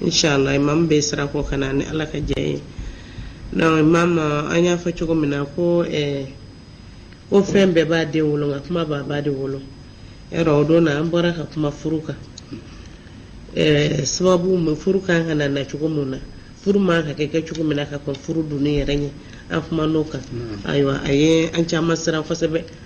Inchallah imam bɛ sira kɔ ka na ni Ala ka jɛn ye donc imam an y'a fɔ cogo min na ko ɛɛ ko fɛn bɛɛ b'a den wolo nka kuma b'a ba de wolo yarɔ o don na an bɔra ka kuma furu kan ɛɛ sababu mun furu kan ka na na cogo mun na furu man kan ka kɛ cogo min na ka kɔn furu donni yɛrɛ ɲɛ an kuman'o kan ayiwa a ye an caman siran kosɛbɛ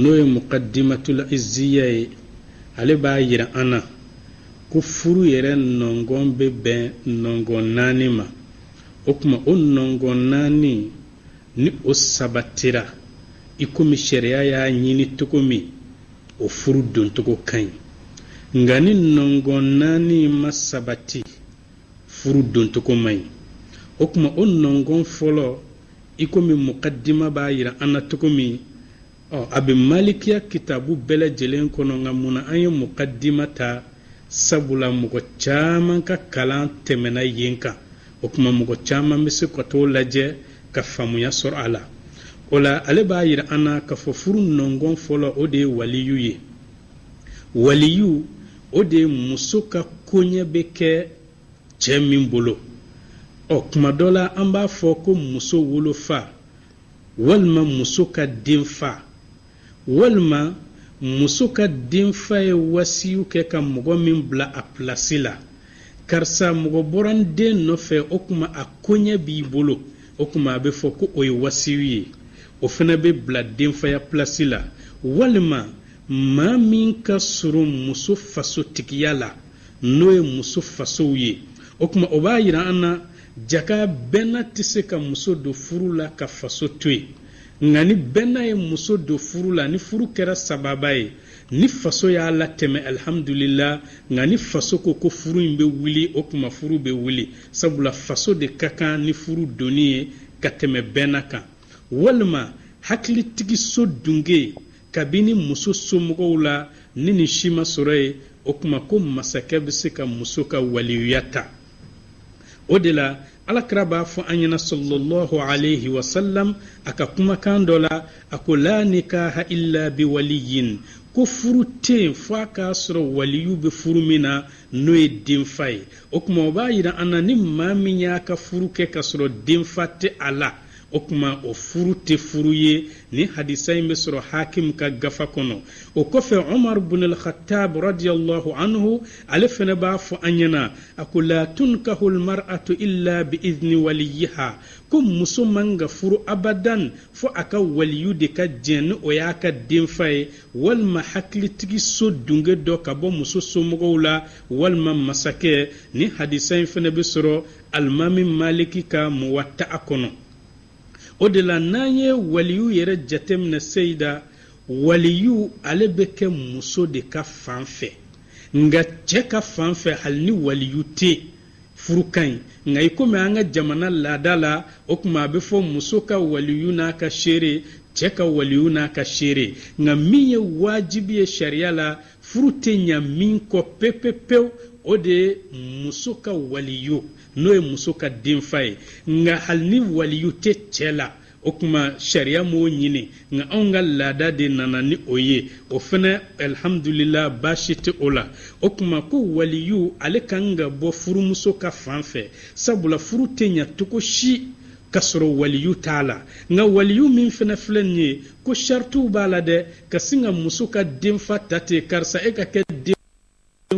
n'o ye mukadimatul izziya ye ale b'a yira an na ko furu yɛrɛ nɔngɔn bɛ bɛn nɔngɔn naani ma o tuma o nɔngɔn naani ni o sabatira i komi sariya y'a ɲini cogo min o furu doncogo ka ɲi nka ni nɔngɔn naani ma sabati furu doncogo man ɲi o tuma o nɔngɔn fɔlɔ i komi mukadima b'a yira an na cogo min ɔ a bɛ malikiya kitabu bɛɛ lajɛlen kɔnɔ nka mun na an ye mukadima ta sabula mɔgɔ caman ka kalan tɛmɛna yen kan o tuma mɔgɔ caman bɛ se ka t'o lajɛ ka faamuya sɔrɔ a la o la ale b'a yira an na k'a fɔ furu nɔngɔn fɔlɔ o de ye waliyu ye waliyu o de ye muso ka koɲɛ bɛ kɛ cɛ min bolo ɔ kuma dɔ la an b'a fɔ ko muso wolofa walima muso ka denfa walima muso ka denfa ye wasiyu kɛ ka mɔgɔ min bila a pilasi la karisa mɔgɔ bɔra n den nɔfɛ o kuma a koɲɛ b'i bolo o kuma a bɛ fɔ ko o ye wasiyu ye o fana bɛ bila denfaya pilasi la walima maa min ka surun muso fasotigiya la n'o ye muso fasow ye o kuma o b'a yira an na jaka bɛnna tɛ se ka muso don furu la ka faso to yen nka ni bɛnna ye muso don furu la ni furu kɛra sababa ye ni faso y'a latɛmɛ alihamudulila nka ni faso ko ko furu in bɛ wuli o kuma furu bɛ wuli sabula faso de ka kan ni furu donni ye ka tɛmɛ bɛnna kan walima hakilitigiso dunge kabini muso somɔgɔw la ni nin si ma sɔrɔ yen o kuma ko masakɛ bɛ se ka muso ka waliyuya ta o de la alakira b'a fɔ an ɲɛna sallallahu alayhi wa sallam a ka kumakan dɔ la a ko la nikaha illa bi waliyin ko furu tɛ yen fo a k'a sɔrɔ waliyu bɛ furu min na n'o ye denfa ye o kuma o b'a yira an na ni maa min y'a ka furu kɛ k'a sɔrɔ denfa tɛ a la o kuma o furu tɛ furu ye nin hadisa in bɛ sɔrɔ hakim ka gafa kɔnɔ o kɔfɛ umar bun al-khattab radiyallahu anhu ale fana b'a fɔ an ɲɛna a ko la tunkahu al-mar'atu illa bi idni waliyiha ko muso man ka furu abadan fo a ka waliyu de ka jɛn ni o y'a ka denfa ye walima hakilitigi so dunge dɔ ka bɔ muso somɔgɔw la walima masakɛ nin hadisa in fana bɛ sɔrɔ alimami maliki ka muwatta'a kɔnɔ o de la n'an ye waliyu yɛrɛ jateminɛ seyida waliyu ale bɛ kɛ muso de ka fan fɛ nka cɛ ka fan fɛ hali ni waliyu tɛ yen furu ka ɲi nka i komi an ka jamana laada la o kuma a bɛ fɔ muso ka waliyu n'a ka seere cɛ ka waliyu n'a ka seere nka min ye wajibi ye sariya la furu tɛ ɲa min kɔ pepepewu o de ye muso ka waliyu n'o ye muso ka denfa ye nka hali ni waliyu tɛ cɛ la o kuma sariya m'o ɲini nka anw ka laada de nana ni o ye o fana alihamudulila baasi tɛ o la o kuma ko waliyu ale ka kan ka bɔ furumuso ka fan fɛ sabula furu tɛ ɲa cogo si k'a sɔrɔ waliyu t'a la nka waliyu min fana filɛ nin ye ko sarituw b'a la dɛ ka sin ka muso ka denfa ta ten karisa e ka kɛ den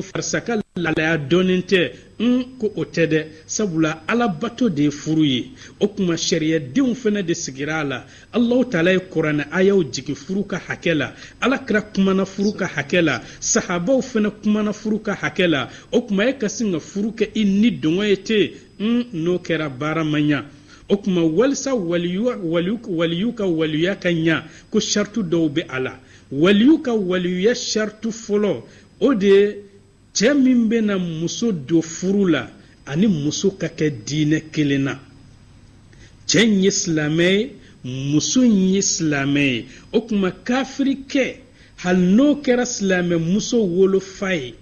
karisa ka lalaya dɔɔnin tɛ n ko o tɛ dɛ sabula alabato de ye furu ye o kuma sariyadenw fana de sigira a la allahu taala ye kuranɛ ayaw jigin furu ka hakɛ la ala kira kumana furu ka hakɛ la sahabaw fana kumana furu ka hakɛ la o kuma e ka sin ka furu kɛ i ni dɔngɔ ye ten un n'o kɛra baara ma ɲa o kuma walisa waliyu ka waliyuya ka ɲa ko saritu dɔw bɛ a la waliyu ka waliyuya saritu fɔlɔ o de ye cɛ min bɛna muso don furu la ani muso ka kɛ diinɛ kelen na cɛ in ye silamɛ ye muso in ye silamɛ ye o kuma kafirikɛ hali n'o kɛra silamɛ muso wolofa ye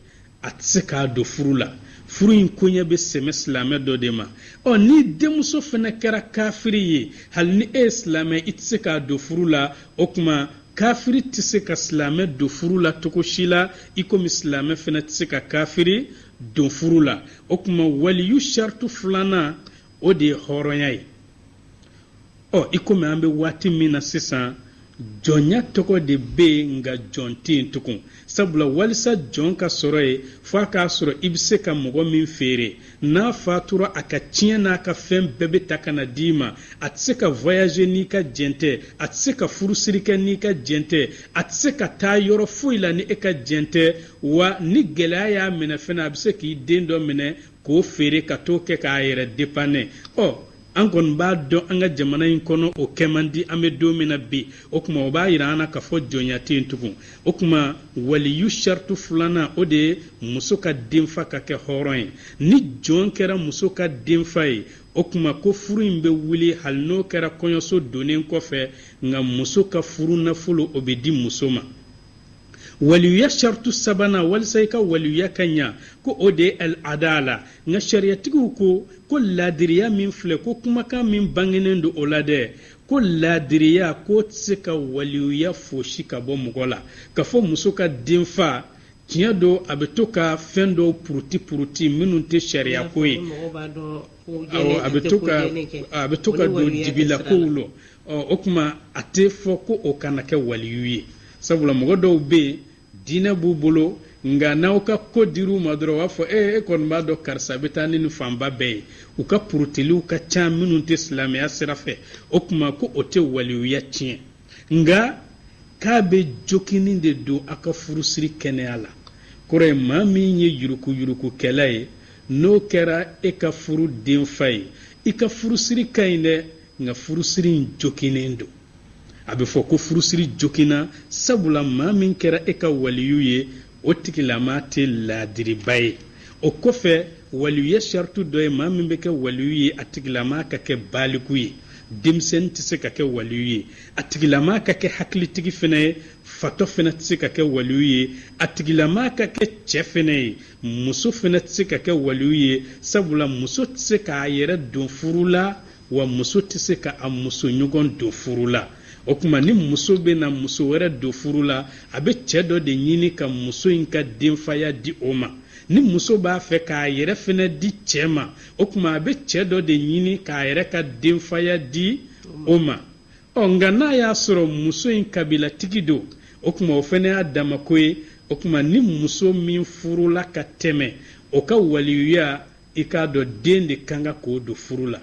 a tɛ se k'a don furu la furu in koɲɛ bɛ sɛmɛ silamɛ dɔ de ma ɔ ni denmuso fana kɛra kafiri ye hali ni e ye silamɛ i tɛ se k'a don furu la o kuma kafiri tɛ se ka silamɛ don furu la cogo si la i komi silamɛ fana tɛ se ka kafiri don furu la o kuma waliyu saritu filanan o de ye hɔrɔnya ye ɔ i komi an bɛ waati min na sisan jɔnya tɔgɔ de bɛ yen nka jɔn tɛ yen tugun sabula walisa jɔn ka sɔrɔ yen f'a k'a sɔrɔ i bɛ se ka mɔgɔ min feere n'a fatura a ka tiɲɛ n'a ka fɛn bɛɛ bɛ ta ka na d'i ma a tɛ se ka voyager n'i ka jɛn tɛ a tɛ se ka furusiri kɛ n'i ka jɛn tɛ a tɛ se ka taa yɔrɔ foyi la ni e ka jɛn tɛ wa ni gɛlɛya y'a minɛ fana a bɛ se k'i den dɔ minɛ k'o feere ka t'o kɛ k'a yɛrɛ dépanner ɔ an kɔni b'a dɔn an ka jamana in kɔnɔ o kɛ man di an bɛ don min na bi o kuma o b'a yira an na k'a fɔ jɔnya tɛ yen tugun o kuma waliyu saritu filanan o de ye muso ka denfa ka kɛ hɔrɔn ye ni jɔn kɛra muso ka denfa ye o kuma ko furu in bɛ wuli hali n'o kɛra kɔɲɔso donnen kɔfɛ nka muso ka furu nafolo o bɛ di muso ma waliyuya saritu sabanan walisa i ka waliyuya ka ɲa ko o de ye al adala nka sariyatigiw ko ko laadiriya min filɛ ko kumakan min bangenen don o la dɛ ko laadiriya k'o tɛ se ka waliyuya fosi ka bɔ mɔgɔ la k'a fɔ muso ka denfa tiɲɛ don a bɛ to ka fɛn dɔw puruti puruti minnu tɛ sariya ko ye a bɛ to ka don dibila kow la ɔ o kuma a tɛ fɔ ko o kana kɛ waliyu ye sabula mɔgɔ dɔw bɛ yen diinɛ b'u bolo nka n'aw ka ko dir'u ma dɔrɔn u b'a fɔ ee e kɔni b'a dɔn karisa bɛ taa ni nin fanba bɛɛ ye u ka purutiliw ka ca minnu tɛ silamɛya sira fɛ o kuma ko o tɛ waliyuya tiɲɛ nka k'a bɛ jokinni de don a ka furusiri kɛnɛya la kɔrɔ ye maa min ye yurukuyurukukɛla ye n'o kɛra e ka furu denfa ye i ka furusiri ka ɲi dɛ nka furusiri in jokinnen don a bɛ fɔ ko furusiri jokinna sabula maa min kɛra e ka waliyu ye o tigilama tɛ laadiriba ye o kɔfɛ waliyuya saritu dɔ ye maa min bɛ kɛ waliyu ye a tigilama ka kɛ baaliku ye denmisɛnnin tɛ se ka kɛ waliyu ye a tigilama ka kɛ hakilitigi fana ye fatɔ fana tɛ se ka kɛ waliyu ye a tigilama ka kɛ cɛ fana ye muso fana tɛ se ka kɛ waliyu ye sabula muso tɛ se k'a yɛrɛ don furu la wa muso tɛ se ka a muso ɲɔgɔn don furu la o kuma ni muso bɛna muso wɛrɛ don furu la a bɛ cɛ dɔ de ɲini ka muso in ka denfaya di o ma ni muso b'a fɛ k'a yɛrɛ fana di cɛ ma o kuma a bɛ cɛ dɔ de ɲini k'a yɛrɛ ka denfaya di o ma ɔ nka n'a y'a sɔrɔ muso in kabilatigi don o kuma o fana y'a damako ye o kuma ni muso min furula ka tɛmɛ o ka waliyuya i k'a dɔn den de kan ka k'o don furu la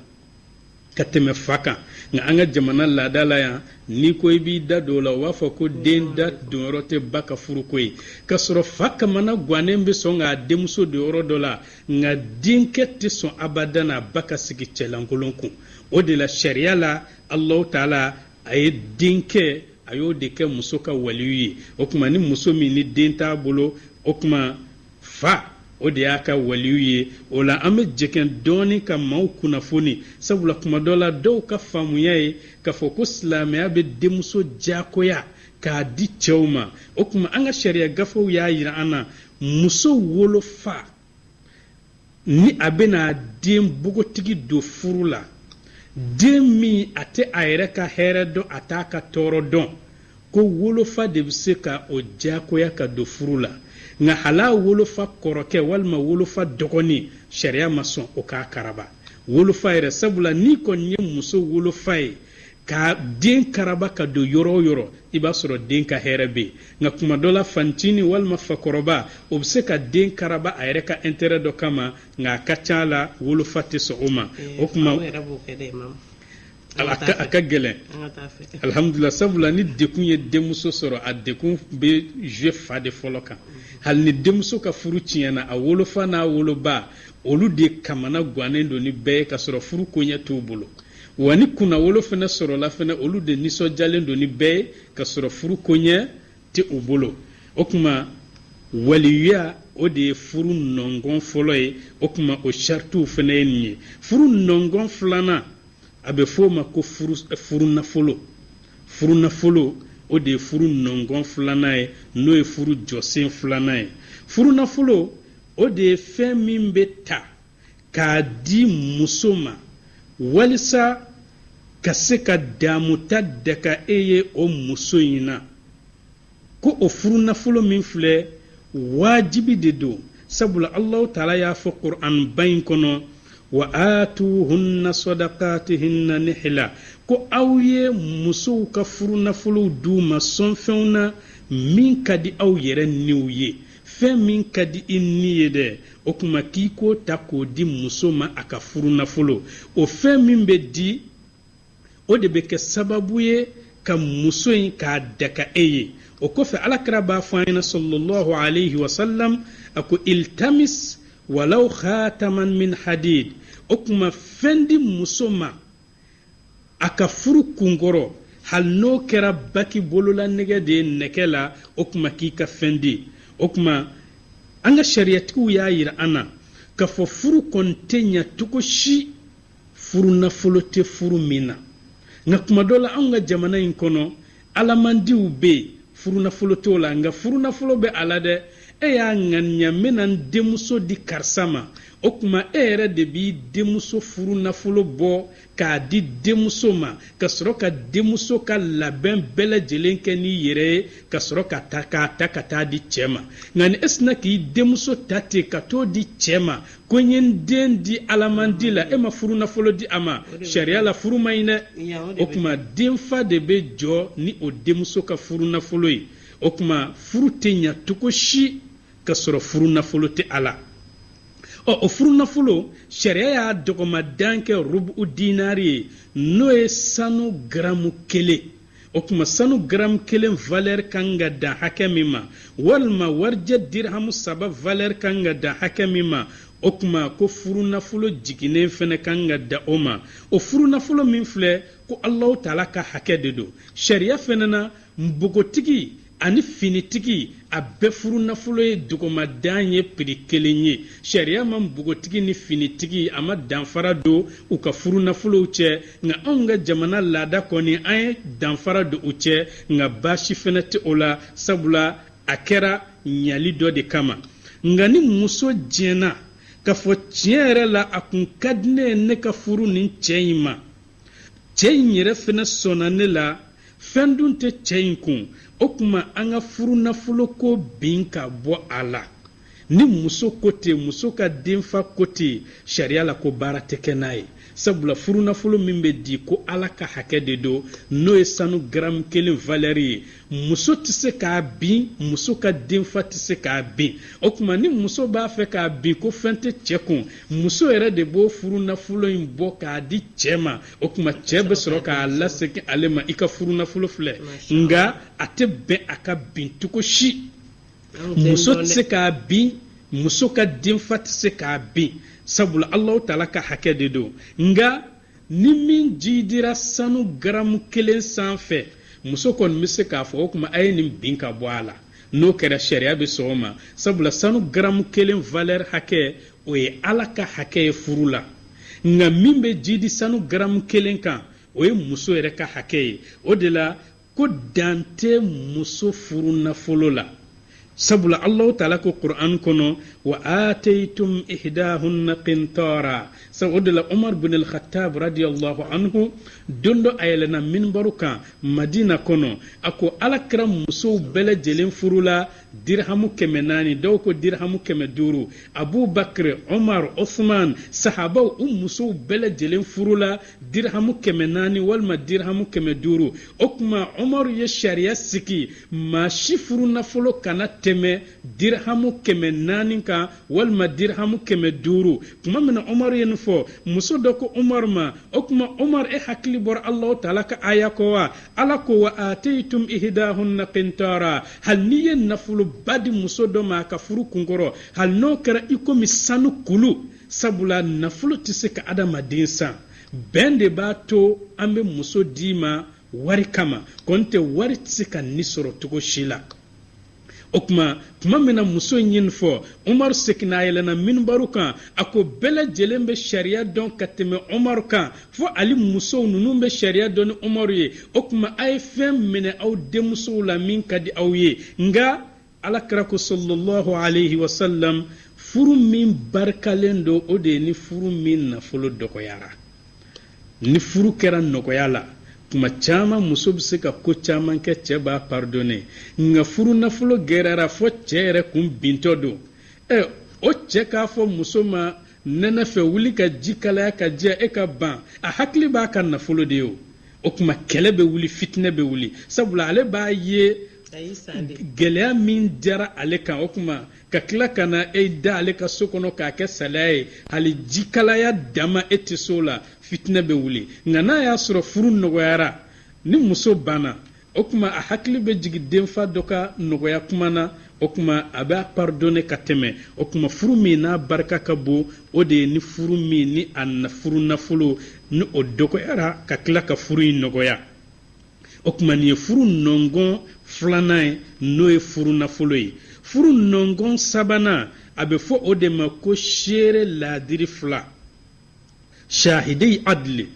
ka tɛmɛ fa kan nka an ka jamana laada la yan n'i ko i b'i da don o la u b'a fɔ ko den da donyɔrɔ tɛ ba ka furuko ye k'a sɔrɔ fa kamana gannen bɛ sɔn k'a denmuso don yɔrɔ dɔ la nka denkɛ tɛ sɔn abadan a ba ka sigi cɛlankolon kun o de la sariya la alahu taala a ye denkɛ a y'o de kɛ muso ka waliyu ye o kuma ni muso min ni den t'a bolo o kuma fa o de y'a ka waliyu ye o la an bɛ jɛkɛn dɔɔni ka maaw kunnafoni sabula kuma dɔ la dɔw ka faamuya ye k'a fɔ ko silamɛya bɛ denmuso diyagoya k'a di cɛw ma o kuma an ka sariya gafew y'a yira an na muso wolofa ni a bɛna den bogotigi don furu la den min a tɛ a yɛrɛ ka hɛrɛ dɔn a t'a ka tɔɔrɔ dɔn ko wolofa de bɛ se ka o diyagoya ka don furu la nka hal'a wolofa kɔrɔkɛ walima wolofa dɔgɔnin sariya ma sɔn o k'a karaba wolofa yɛrɛ sabula n'i kɔni ye muso wolofa ye ka den karaba ka don yɔrɔ o yɔrɔ i b'a sɔrɔ den ka hɛrɛ bɛ yen nka kuma dɔ la fantini walima fakɔrɔba o bɛ se ka den karaba a yɛrɛ ka intérêt dɔ kama nka a ka ca a la wolofa tɛ sɔn o ma o kuma a ka gɛlɛn alihamudulila sabula ni degun ye denmuso sɔrɔ a degun bɛ jouer fa de fɔlɔ kan hali ni denmuso ka furu tiɲɛna a wolofa n'a woloba olu de kamanagannen don ni bɛɛ ye ka sɔrɔ furu koɲɛ t'u bolo wa ni kunnawolo fana sɔrɔla fana olu de nisɔndiyalen don ni bɛɛ ye ka sɔrɔ furu koɲɛ tɛ u bolo o kuma waliyuya o de ye furu nɔngɔn fɔlɔ ye o kuma o saritiw fana ye nin ye furu nɔngɔn filanan a bɛ f'o ma ko furu nafolo furu nafolo o de ye furu nɔngɔn filanan ye n'o ye furu jɔsen filanan ye furu nafolo o de ye fɛn min bɛ ta k'a di muso ma walisa ka se ka damuta daga e ye o muso in na ko o furu nafolo min filɛ wajibi de don sabula allahu taala y'a fɔ qur'an ba in kɔnɔ wa atuhunna sadaqatihinna nihla ko aw ye musow ka furu nafolow d'u ma sɔnfɛnw na min ka di aw yɛrɛ niw ye fɛn min ka di i ni ye dɛ o kuma k'i k'o ta k'o di muso ma a ka furu nafolo o fɛn min bɛ di o de bɛ kɛ sababu ye ka muso in k'a daga e ye o kɔfɛ ala kira b'a fɔ an ɲɛna sallallahu alayhi wa sallam a ko iltamis walaw khataman min hadid o kuma fɛn di muso ma a ka furu kunkɔrɔ hali n'o kɛra bague bololanɛgɛ de ye nɛgɛ la o kuma k'i ka fɛn di o kuma an ka sariyatigiw y'a yira an na k'a fɔ furu kɔni tɛ ɲa cogo si furu nafolo tɛ furu min na nka kuma dɔ la anw ka jamana in kɔnɔ Alamandiw bɛ yen furunafolo t'o la nka furunafolo bɛ a la dɛ e y'a ŋaniya n bɛna n denmuso di karisa ma o kuma e yɛrɛ de b'i denmuso furunafolo bɔ k'a di denmuso ma ka sɔrɔ ka denmuso ka labɛn bɛɛ lajɛlen kɛ n'i yɛrɛ ye ka sɔrɔ ka ta k'a ta ka taa di cɛ ma nka ni e sinna k'i denmuso ta ten ka t'o di cɛ ma ko n ye n den di alamandi la e ma furu nafolo di a ma sariya la furu man ɲi dɛ o kuma denfa de bɛ jɔ ni o denmuso ka furu nafolo ye o kuma furu tɛ ɲa cogo si ka sɔrɔ furu nafolo tɛ a la ɔ o furu nafolo sariya y'a dɔgɔmadan kɛ rubu dinari ye n'o ye sanu garamu kelen o kuma sanu garamu kelen valɛri ka kan ka dan hakɛ min ma walima warijɛ dirhamu saba valɛri ka kan ka dan hakɛ min ma o kuma ko furunafolo jiginnen fana ka kan ka da o ma o furunafolo min filɛ ko alahu taala ka hakɛ de don sariya fana na npogotigi ani finitigi a bɛɛ furu nafolo ye dɔgɔmadan ye piri kelen ye sariya ma npogotigi ni finitigi a ma danfara don u ka furu nafolow cɛ nka anw ka jamana laada kɔni an ye danfara don u cɛ nka baasi fana tɛ o la sabula a kɛra ɲali dɔ de kama nka ni muso diɲɛna k'a fɔ tiɲɛ yɛrɛ la a kun ka di ne ye ne ka furu nin cɛ in ma cɛ in yɛrɛ fana sɔnna ne la fɛn dun tɛ cɛ in kun o kuma an ka furu nafolo ko bin ka bɔ a la ni muso ko ten muso ka denfa ko ten sariya la ko baara tɛ kɛ n'a ye sabula furu nafolo min bɛ di ko ala ka hakɛ de don n'o ye sanu garamu kelen valɛri ye muso tɛ se k'a bin muso ka denfa tɛ se k'a bin o kuma ni muso b'a fɛ k'a bin ko fɛn tɛ cɛ kun muso yɛrɛ de b'o furu nafolo in bɔ k'a di cɛ ma o kuma cɛ bɛ sɔrɔ k'a lasegin ale ma i ka furu nafolo filɛ nka a tɛ bɛn a ka bin cogo si muso tɛ se k'a bin muso ka denfa tɛ se k'a bin sabula alahu taala ka hakɛ de don nka ni min jidira sanu garamu kelen sanfɛ muso kɔni bɛ se k'a fɔ o kuma a ye nin bin ka bɔ a la n'o kɛra sariya bɛ sɔn o ma sabula sanu garamu kelen valɛri hakɛ o ye ala ka hakɛ ye furu la nka min bɛ jidi sanu garamu kelen kan o ye muso yɛrɛ ka hakɛ ye o de la ko dan tɛ muso furu nafolo la sabula allahu taala ko qur'an kɔnɔ wa ataytum ihdahunna qintara sabu o de la umar bin al-khattab radiyallahu anhu don dɔ a yɛlɛna minbaru kan madina kɔnɔ a ko ala kira musow bɛɛ lajɛlen furula dirhamu kɛmɛ naani dɔw ko dirhamu kɛmɛ duuru abubakar omar osman sahabaw u musow bɛɛ lajɛlen furula dirhamu kɛmɛ naani walima dirhamu kɛmɛ duuru o kuma omar ye sariya sigi maa si furu nafolo kana tɛmɛ dirhamu kɛmɛ naani kan walima dirhamu kɛmɛ duuru kuma min na omar ye nin fɔ muso dɔ ko omar ma o kuma omar e hakili bɔra allahu taala ka aya kɔ wa ala ko wa ataytum ihdahunna qintara hali n'i ye nafoloba di muso dɔ ma a ka furu kunkɔrɔ hali n'o kɛra i komi sanu kulu sabula nafolo tɛ se ka adamaden san bɛn de b'a to an bɛ muso d'i ma wari kama kɔni tɛ wari tɛ se ka ni sɔrɔ cogo si la o tuma tuma min na muso in ye nin fɔ umaru seginna a yɛlɛnna minibaru kan a ko bɛɛ lajɛlen bɛ sariya dɔn ka tɛmɛ umaru kan fo ali musow ninnu bɛ sariya dɔn ni umaru ye o tuma a ye fɛn minɛ aw denmusow la min ka di aw ye nka alakira ko sallallahu alayhi wa sallam furu min barikalen don o de ye ni furu min nafolo dɔgɔyara ni furu kɛra nɔgɔya la tuma caman muso bɛ se ka ko caman kɛ cɛ b'a pardonne nka furu nafolo gɛlɛyara fo cɛ yɛrɛ kun bintɔ don ɛ o cɛ k'a fɔ muso ma nɛnɛ fɛ wuli ka ji kalaya ka jɛ e ka ban a hakili b'a ka nafolo de ye o o tuma kɛlɛ bɛ wuli fitinɛ bɛ wuli sabula ale b'a ye gɛlɛya min diyara ale kan o tuma ka tila ka na e da ale ka so kɔnɔ k'a kɛ salaya ye hali jikalaya dama e tɛ s'o la fitinɛ bɛ wuli nka n'a y'a sɔrɔ furu nɔgɔyara ni muso banna o tuma a hakili bɛ jigin denfa dɔ ka nɔgɔya kuma na o tuma a b'a pardonne ka tɛmɛ o tuma furu min n'a barika ka bon o de ye ni furu min ni a furu nafolo ni o dɔgɔyara ka tila ka furu in nɔgɔya o tuma nin ye furu nɔngɔn filanan ye n'o ye furu nafolo ye furu nɔngɔn sabanan a bɛ fɔ o de ma ko seere laadiri fila shahidei adli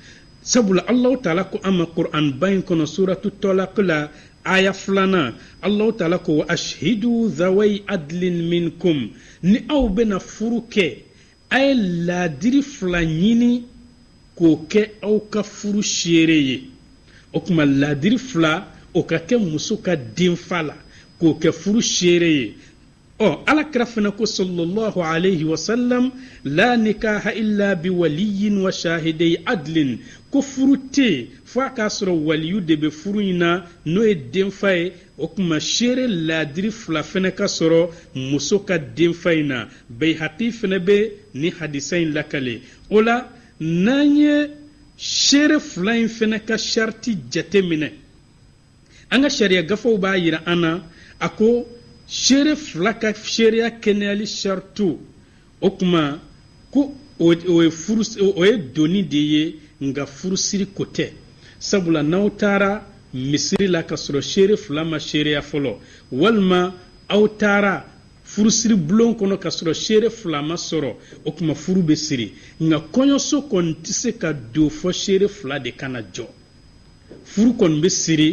sabula allahu taala ko an ma qur'an ba in kɔnɔ suratu talaq la aya filanan allahu taala ko wa ashhidu zawai adlin minkum ni aw bɛna furu kɛ A ye laadiri fila ɲini k'o kɛ aw ka furu seere ye o tuma laadiri fila o ka kɛ muso ka denfa la k'o kɛ furu seere ye ɔ alakira fana ko sallallahu alayhi wa sallam la nikaha illa bi waliyin wa shahidei adlin ko furu tɛ fo a k'a sɔrɔ waliyu de bɛ furu in na n'o ye denfa ye o tuma seere laadiri fila fana ka sɔrɔ muso ka denfa in na bayihaki fana bɛ nin hadisa in lakale o la n'an ye seere fila in fana ka sariti jate minɛ an ka sariya gafew b'a yira an na a ko seere fila ka seereya kɛnɛyali saritiw o tuma ko o ye donni de ye nka furusiri ko tɛ sabula n'aw taara misiri la ka sɔrɔ seere fila ma seereya fɔlɔ walima aw taara furusiri bulon kɔnɔ ka sɔrɔ seere fila ma sɔrɔ o tuma furu bɛ siri nka kɔɲɔso kɔni tɛ se ka don fo seere fila de ka na jɔ furu kɔni bɛ siri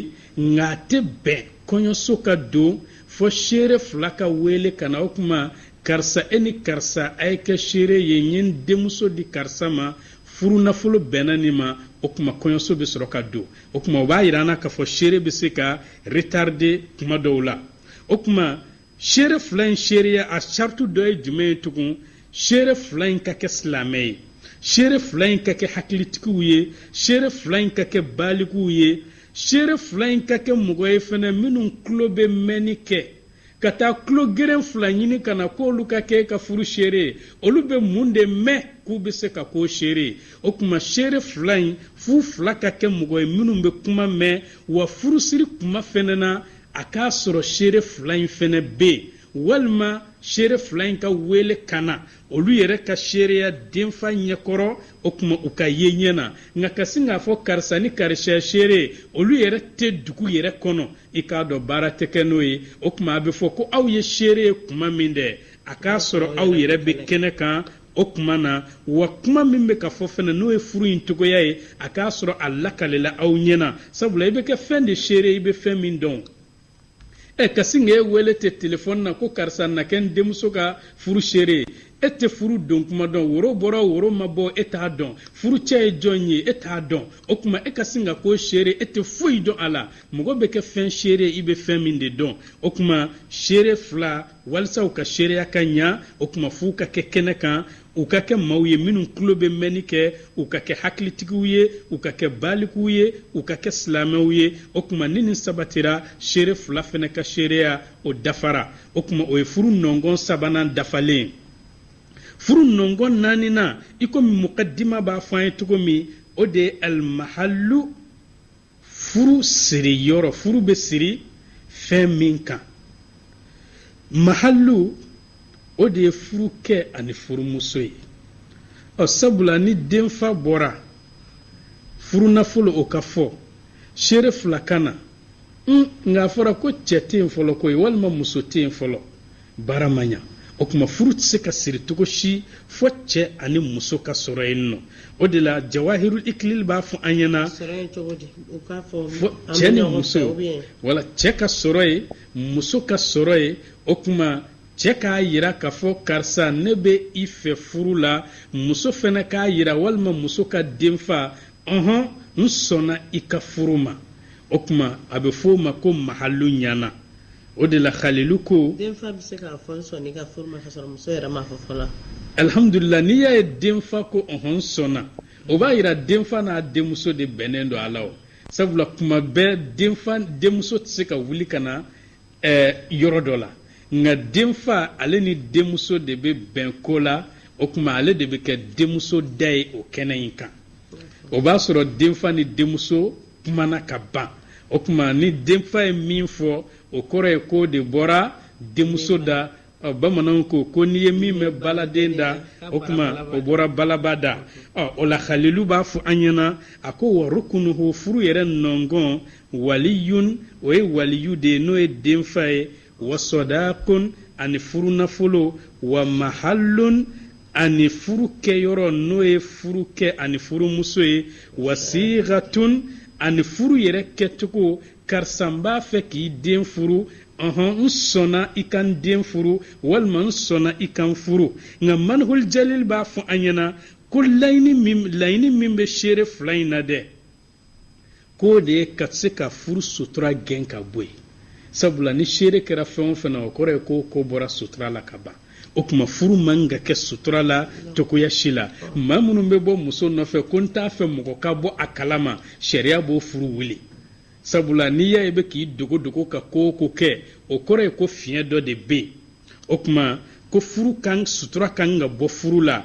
nka a tɛ bɛn kɔɲɔso ka don fɔ seere fila ka wele ka na o kuma karisa e ni karisa a ye kɛ seere ye n ye n denmuso di karisa ma furu nafolo bɛnna nin ma o kuma kɔɲɔso bɛ sɔrɔ ka don o kuma o b'a yira an na k'a fɔ seere bɛ se ka retarde kuma dɔw la o kuma seere fila in seereya a sartu dɔ ye jumɛn ye tugun seere fila in ka kɛ silamɛ ye seere fila in ka kɛ hakilitigiw ye seere fila in ka kɛ balikuw ye seere fila in ka kɛ mɔgɔ ye fana minnu tulo bɛ mɛnni kɛ ka taa tulogeren fila ɲini ka na k'olu ka kɛ ka furu seere ye olu bɛ mun de mɛn k'u bɛ se ka k'o seere ye o tuma seere fila in f'u fila ka kɛ mɔgɔ ye minnu bɛ kuma mɛn wa furusiri kuma fana na a k'a sɔrɔ seere fila in fɛnɛ bɛ yen walima seere fila in ka wele ka na olu yɛrɛ ka seereya denfa ɲɛkɔrɔ o tuma u k'a ye ɲɛ na nka ka sin k'a fɔ karisa ni karisa y'a seere ye olu yɛrɛ tɛ dugu yɛrɛ kɔnɔ i k'a dɔn baara tɛ kɛ n'o ye o tuma a bɛ fɔ ko aw ye seere ye kuma min dɛ a k'a sɔrɔ aw yɛrɛ bɛ kɛnɛ kan o tuma na wa kuma min bɛ ka fɔ fana n'o ye furu in cogoya ye a k'a sɔrɔ a lakalela aw ɲɛna sabula i bɛ kɛ fɛn de seere i bɛ fɛn min dɔn ɛ ka sin ka e wele tɛ telefɔni na ko karisa na kɛ n denmuso ka furu seere e tɛ furu don kuma dɔn woro bɔra woro ma bɔ e t'a dɔn furucɛ ye jɔn ye e t'a dɔn o tuma e ka sin ka k'o seere e tɛ foyi dɔn a la mɔgɔ bɛ kɛ fɛn seere i bɛ fɛn min de dɔn o tuma seere fila walisa u ka seereya ka ɲa o tuma f'u ka kɛ kɛnɛ kan u ka kɛ maaw ye minnu tulo bɛ mɛnni kɛ u ka kɛ hakilitigiw ye u ka kɛ balikuw ye u ka kɛ silamɛw ye o tuma ni nin sabatira seere fila fana ka seereya o dafara o tuma o ye furu nɔngɔn sabanan dafalen furu nɔngɔn naaninan i komi mukadima b'a fɔ an ye cogo min o de ye alimahalu furu siri yɔrɔ furu bɛ siri fɛn min kan mahalu o de ye furukɛ ani furumuso ye ɔ sabula ni denfa bɔra furunafolo o ka fɔ seere fila ka na nka a fɔra ko cɛ tɛ yen fɔlɔ ko ye walima muso tɛ yen fɔlɔ baara ma ɲa o tuma furu tɛ se ka siri cogo si fɔ cɛ ani muso ka sɔrɔ yen nɔ o de la jawahirul ikilil b'a fɔ an ɲɛna fɔ cɛ ni muso wala cɛ ka sɔrɔ yen muso ka sɔrɔ yen o tuma cɛ k'a yira k'a fɔ karisa ne bɛ i fɛ furu la muso fana k'a yira walima muso ka denfa ɔhɔn n sɔnna i ka furu ma o tuma a bɛ fɔ o ma ko mahalu ɲana o de la halilu ko denfa bɛ se k'a fɔ n sɔnna i ka furu ma ka sɔrɔ muso yɛrɛ m'a fɔ fɔlɔ alihamudulila n'i y'a ye denfa ko ɔhɔn n sɔnna o b'a yira denfa n'a denmuso de bɛnnen don a la o sabula kuma bɛɛ denfa denmuso tɛ se ka wuli ka na eh, yɔrɔ dɔ la nka denfa ale ni denmuso de bɛ bɛn ko la o tuma ale de bɛ kɛ denmuso da ye o kɛnɛ in kan o b'a sɔrɔ denfa ni denmuso kumana ka ban o tuma ni denfa ye min fɔ o kɔrɔ ye k'o de bɔra denmuso da ɔ bamananw ko ko n'i ye min mɛn baladen da o tuma o bɔra balaba da ɔ o la halilu b'a fɔ an ɲɛna a ko wa rukunuhu furu yɛrɛ nɔngɔn waliyun o ye waliyu de ye n'o ye denfa ye wa sɔdaakun ani furunafolo wa mahalun ani furu kɛyɔrɔ n'o ye furukɛ ani furumuso ye wa siigatun ani furu yɛrɛ kɛcogo karisa n b'a fɛ k'i den furu ɔhɔn n sɔnna i ka n den furu walima n sɔnna i ka n furu nka manhul jalil b'a fɔ an ɲɛna ko laɲini min laɲini min bɛ seere fila in na dɛ k'o de ye ka se ka furu sutura gɛn ka bɔ yen sabula ni seere kɛra fɛn o fɛn na o kɔrɔ ye k'o ko bɔra sutura la ka ban o tuma furu man ka kɛ sutura la cogoya si la maa minnu bɛ bɔ muso nɔfɛ ko n t'a fɛ mɔgɔ ka bɔ a kalama sariya b'o furu wuli sabula n'i y'a ye bɛ k'i dogodogo ka ko o ko kɛ o kɔrɔ ye ko fiɲɛ dɔ de bɛ yen o tuma ko furu kan sutura kan ka bɔ furu la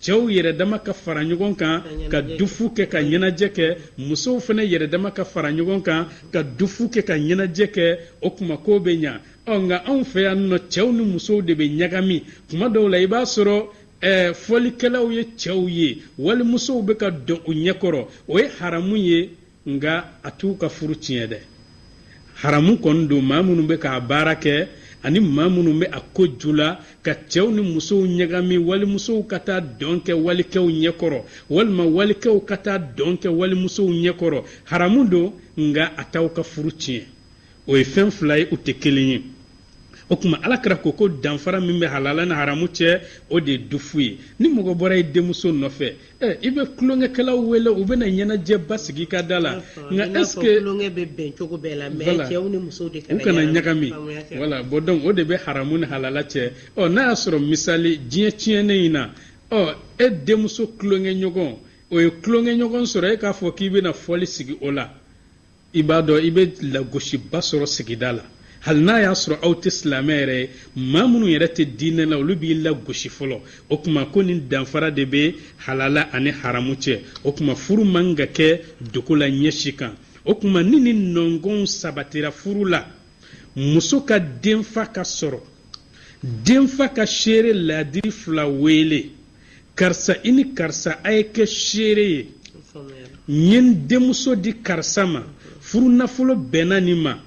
cɛw yɛrɛdama ka fara ɲɔgɔn kan ka dufu kɛ ka ɲɛnajɛ kɛ musow fana yɛrɛdama ka fara ɲɔgɔn kan ka dufu kɛ ka ɲɛnajɛ kɛ o tuma ko bɛ ɲa ɔ nka anw fɛ yan nɔ cɛw ni musow de bɛ ɲagami tuma dɔw la i b'a sɔrɔ ɛɛ eh, fɔlikɛlaw ye cɛw ye walimusow bɛ ka dɔn u ɲɛkɔrɔ o ye haramu ye nka a t'u ka furu tiɲɛ dɛ haramu kɔni don maa minnu bɛ k'a baara kɛ ani maa minnu bɛ a ko ju la ka cɛw ni musow ɲagami walimusow ka taa dɔn kɛ walikɛw ɲɛkɔrɔ walima walikɛw ka taa dɔn kɛ walimusow ɲɛkɔrɔ haramu don nka a t'aw ka furu tiɲɛ o ye fɛn fila ye u tɛ kelen ye o tuma ala kira ko ko danfara min bɛ halala ni haramu cɛ o de ye dufu ye ni mɔgɔ bɔra e denmuso nɔfɛ ɛ i bɛ tulonkɛkɛlaw wele u bɛna ɲɛnajɛba sigi i ka da la nka est-ce que tulonkɛ bɛ bɛn cogo bɛɛ la mais cɛw ni musow de u kana ɲagami voilà bon donc o de bɛ haramu ni halala cɛ ɔ n'a y'a sɔrɔ misali diɲɛ tiɲɛnen in na ɔ e denmuso tulonkɛɲɔgɔn o ye tulonkɛɲɔgɔn sɔrɔ e k'a fɔ k'i bɛna fɔli sigi o la i b'a dɔn i bɛ lagosiba sɔrɔ sigida la hali n'a y'a sɔrɔ aw tɛ silamɛ yɛrɛ ye maa minnu yɛrɛ tɛ diinɛ la olu b'i lagosi fɔlɔ o kuma ko nin danfara de bɛ halala ani haramu cɛ o kuma furu man ka kɛ dogo la ɲɛ si kan o kuma ni nin nɔngɔnw sabatira furu la muso ka denfa ka sɔrɔ denfa ka seere laadiri fila weele karisa i ni karisa a ye kɛ seere ye n ye n denmuso di karisa ma furu nafolo bɛnna nin ma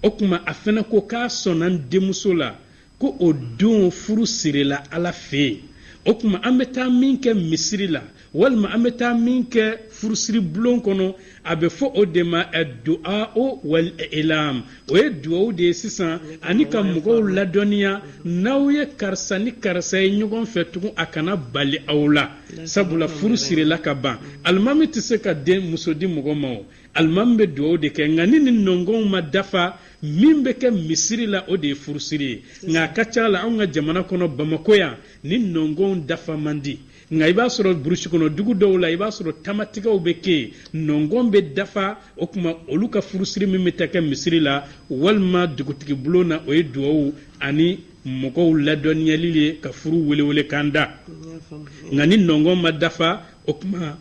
o kuma a fɛnɛ ko k'a sɔnna n denmuso la ko o don furu sirila ala fɛ yen o kuma an bɛ taa min kɛ misiri la walima an bɛ taa min kɛ furusiri bulon kɔnɔ a bɛ fɔ o de ma du'a'u wal ilamu o ye duwawu de ye sisan ani ka mɔgɔw ladɔnniya n'aw ye karisa ni karisa ye ɲɔgɔn fɛ tugun a kana bali aw la sabula furu sirila ka ban alimami tɛ se ka denmuso di mɔgɔ ma o alimami bɛ duwawu de kɛ nka ni nin nɔngɔnw ma dafa min bɛ kɛ misiri la o de ye furusiri ye nka a ka ca la anw ka jamana kɔnɔ bamakɔ yan nin nɔngɔnw dafa man di nka i b'a sɔrɔ burusi kɔnɔ dugu dɔw la i b'a sɔrɔ tamatigɛw bɛ kɛ yen nɔngɔn bɛ dafa o kuma olu ka furusiri min bɛ taa kɛ misiri la walima dugutigi bulon na o ye duwawu ani mɔgɔw ladɔnniyali ye ka furu welewelekan da nka ni nɔngɔn ma dafa o kuma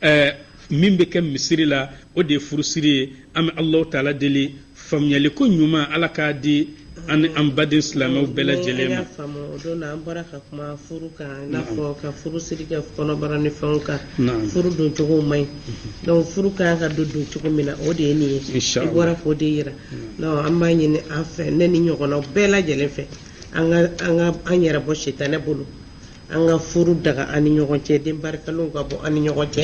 ɛɛ min bɛ kɛ misiri la o de ye furusiri ye an bɛ alahu taala deli faamuyaliko ɲuman ala k'a di an ni an baden silamɛw bɛɛ lajɛlen ma. o don na an bɔra ka kuma furu kan i n'a fɔ ka furusiri kɛ kɔnɔbara ni fɛnw kan furu don cogo man ɲi mhm. donc furu kan ka don don cogo min na o de ye nin ye i bɔra k'o de yira donc an b'a ɲini an fɛ ne ni ɲɔgɔnnaw bɛɛ lajɛlen fɛ an ka an ka an yɛrɛ bɔ sitanɛ bolo. an ka furu daga an ni ɲɔgɔn cɛ den barikalenw ka bɔ an ni ɲɔgɔn cɛ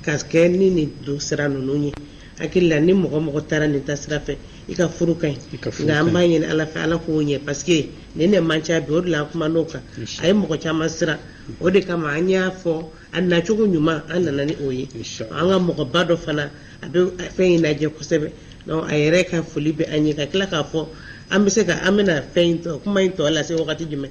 ka kɛ ni nin don sira ninnu ye hakili la ni mɔgɔ mɔgɔ taara nin taasira fɛ i ka furu ka ɲi nka an b'a ɲini ala fɛ ala k'o ɲɛ paseke nin de man ca bi o de la an kuman'o kan a ye mɔgɔ caman siran o de kama an y'a fɔ a nacogo ɲuman an nana ni o ye an ka mɔgɔba dɔ fana a bɛ fɛn in lajɛ kosɛbɛ a yɛrɛ ka foli bɛ an ye ka tila k'a fɔ an bɛ se ka an bɛna fɛn in tɔ kuma in tɔ lase wagati jumɛn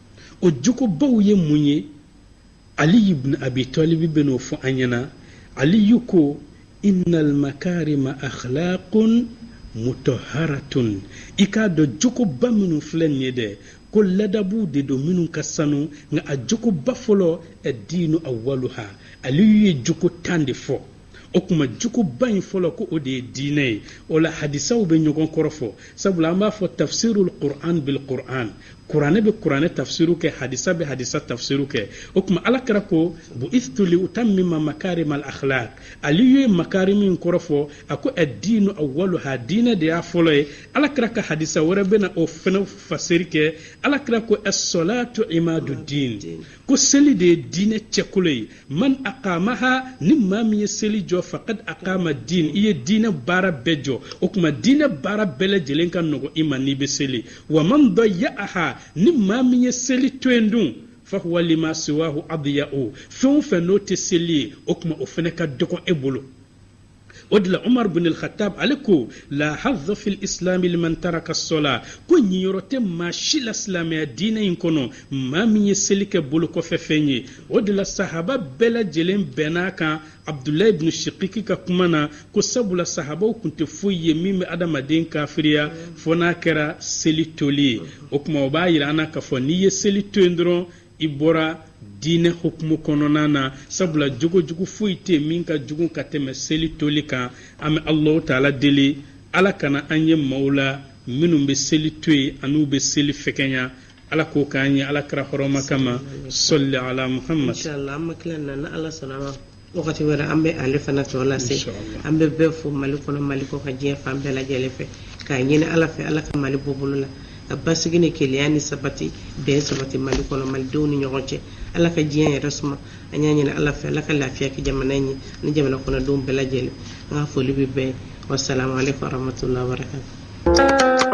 o jogobaw ye mun ye aliyu bunu abi talibi bɛn'o fɔ an ɲɛna aliyu ko inna almakarima akhlaqun mutahharatun i k'a dɔn jogoba minnu filɛ nin ye dɛ ko ladabuw de don minnu ka sanu nka a jogoba fɔlɔ addiinu awaluha aliyu ye jogo tan de fɔ o kuma jogoba in fɔlɔ ko o de ye diinɛ ye o la hadisaw bɛ ɲɔgɔn kɔrɔ fɔ sabula an b'a fɔ tafsirul qur'an bil qur'an kuranɛ bɛ kuranɛ tafsiru kɛ hadisa bɛ hadisa tafsiru kɛ o kuma alakira ko bu'istu li utammima makarim al akhlaq aliyu ye makarim in kɔrɔ fɔ a ko ad-dinu awwaluha diinɛ de y'a fɔlɔ ye alakira ka hadisa wɛrɛ bɛna o fɛnɛ fasiri kɛ alakira ko as-salatu imadu din ko seli de ye diinɛ cɛkolo ye man aqamaha ni maa min ye seli jɔ faqad aqama din i ye diinɛ baara bɛɛ jɔ o kuma diinɛ baara bɛɛ lajɛlen ka nɔgɔ i ma n'i bɛ seli wa man dayya'aha ni maa min ye seli to yen dun fahuwa lima siwahu adiya'u fɛn o fɛn n'o tɛ seli ye o kuma o fɛnɛ ka dɔgɔ e bolo o de la umar bin al-khattab ale ko la hazza fil islam liman taraka sola ko ɲiyɔrɔ tɛ maa si la silamɛya diinɛ in kɔnɔ maa min ye seli kɛ bolo kɔfɛ fɛn ye o de la sahaba bɛɛ lajɛlen bɛnn'a kan abdulayi bin shikiki ka kuma na ko sabula sahabaw kun tɛ foyi ye min bɛ adamaden kafiriya fo n'a kɛra seli toli ye o kuma o b'a yira an na k'a fɔ n'i ye seli to yen dɔrɔn i bɔra diinɛ hukumu kɔnɔna na sabula jogojugu foyi tɛ min ka jugu ka tɛmɛ seli toli kan an bɛ alahu taala deli ala kana an ye maaw la minnu bɛ seli to yen an'u bɛ seli fɛgɛnya ala k'o k'an ye alakira hɔrɔma kama salli ala muhamad Wagati wɛrɛ an bɛ ale fana tɔ lase an bɛ bɛɛ fo mali kɔnɔ mali kɔkan diɲɛ fan bɛɛ lajɛlen fɛ k'a ɲini ala fɛ ala ka mali bɔ bolo la ka basigi ni kelenya ni sabati bɛn sabati mali kɔnɔ malidenw ni ɲɔgɔn cɛ ala ka diɲɛ yɛrɛ suma an y'a ɲini ala fɛ ala ka lafiya kɛ jamana in ye ni jamana kɔnɔdenw bɛɛ lajɛlen an ka foli bɛ bɛɛ wassalamu alaikum warahmatullahi wabarakatuh